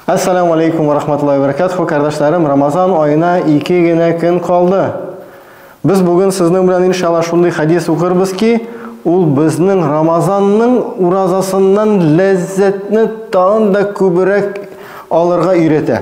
Ассаламу алейкум ва рахматуллахи ва баракатуху, кардәшләрем, Рамазан аена ике генә көн калды. Без бүген сезнең белән иншалла шундый хадис укырбыз ки, ул безнең Рамазанның уразасыннан ләззәтне тагын да күбрәк алырга өйрәтә.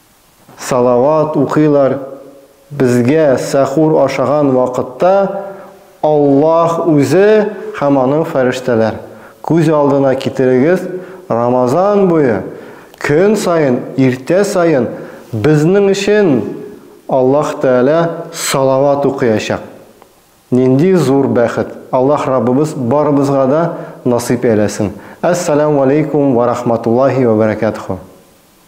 Салават укыйлар, безгә сәхур ашаган вакытта Аллаһ үзе һәм аның фәрештәләр. Күз алдына китерегез, Рамазан буе көн саен, иртә саен безнең өчен Аллаһ Тәгалә салават укыячак. Нинди зур бәхет! Аллаһ Раббыбыз барыбызга да насыйп әйләсен. Әссәләмү алейкум вә рахматуллаһи вә бәрәкәтһү.